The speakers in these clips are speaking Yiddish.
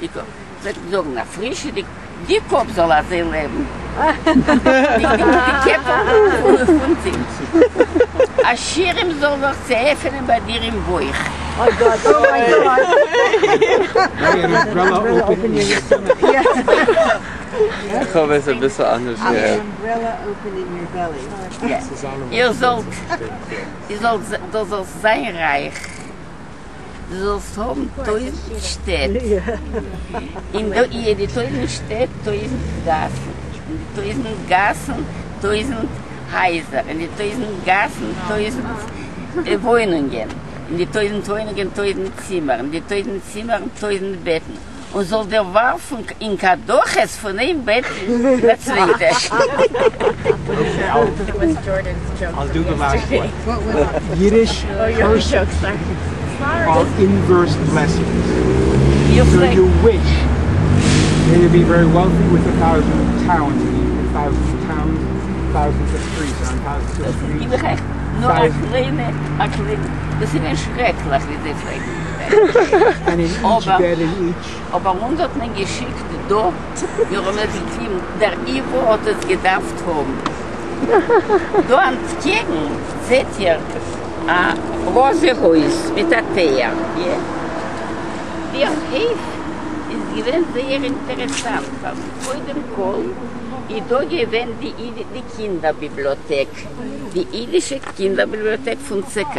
די קאפ וועט זאגן א פרישע די די קאפ זאל אזוי לעבן די קעפל פון זינט א שירעם זאל זיך צעעפענען ביי דיר אין בויך. אוי גאט אוי גאט. איר זאלט דו זאלסט זיין רייך. דו זאלסט האבן טויזנט שטעט, און דא איהר די טויזנט שטעט טויזנט גאסן, און די טויזנט גאסן טויזנט הייזער, און די טויזנט גאסן טויזנט וואוינונגען, און די טויזנט וואוינונגען טויזנט צימערן, און די טויזנט צימערן טויזנט בעטן, און זאָל דיר װאַרפֿן אין קדחת פֿון אײן בעט אין דער צװײטער. אבער אונז האט מען געשיקט דא, מיר האבן עס געטוהן, דער איווא האט עס געדארפט האבן. דא אנטקעגן זעהט איר א ראזע הויז מיט א טייער. די הויף איז געווען זייער אינטערעסאנט פאר מיר, קודם כל איז דא געווען די קינדער ביבליאטעק, די אידישע קינדער ביבליאטעק פון צ ק.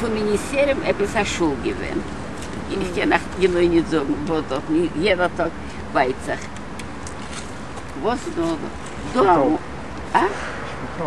פון די יסורים עפעס א שול געווען, איך קען אייך גענוי נישט זאגן וואס דארט, יעדער טאג ווייט זיך וואס נאר דא. שפיטאל?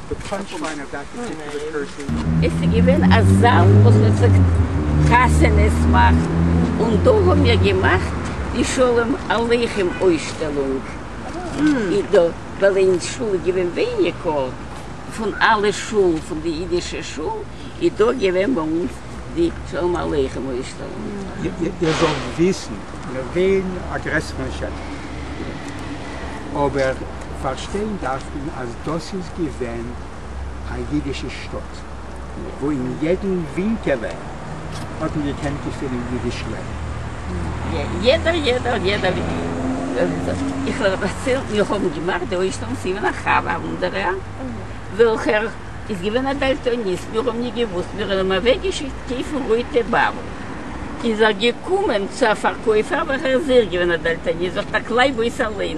די פאנטשליין אוו דעט פארטיקולער פערסאן איז ס'געווען א זאל וואס מ'זאגט חתונות מאכן, און דא האמיר געמאכט די שלום עליכם אויסשטעלונג, אי דא ווייל אין שול איז געווען ווייניגער פון אלע שולן פון די אידישע שול, איז דא געווען ביי אונז די שלום עליכם אויסשטעלונג. איר זאלט וויסן, מיר וועלן א גרעסערן שטח, אבער. פארשטיין דארף מען אז דאס איז געווען א אידישע שטאט, וואו אין יעדן ווינקעלע האט מען געקענט געפינען אידיש לעבן. יעדער יעדער יעדער איך וועל דערציילן, מיר האבן געמאכט די אויסנאם פון ווען א חבר א וואנדערער וועלכער איז געווען א דאלטאניסט, מיר האבן נישט געוואוסט, מיר האבן אים אוועקגעשיקט קויפן רויטע באבוב, איז ער געקומען צו א פארקויפער וועלכער איז אויך געווען א דאלטאניסט, זאגט ער קלייב אויס אליין.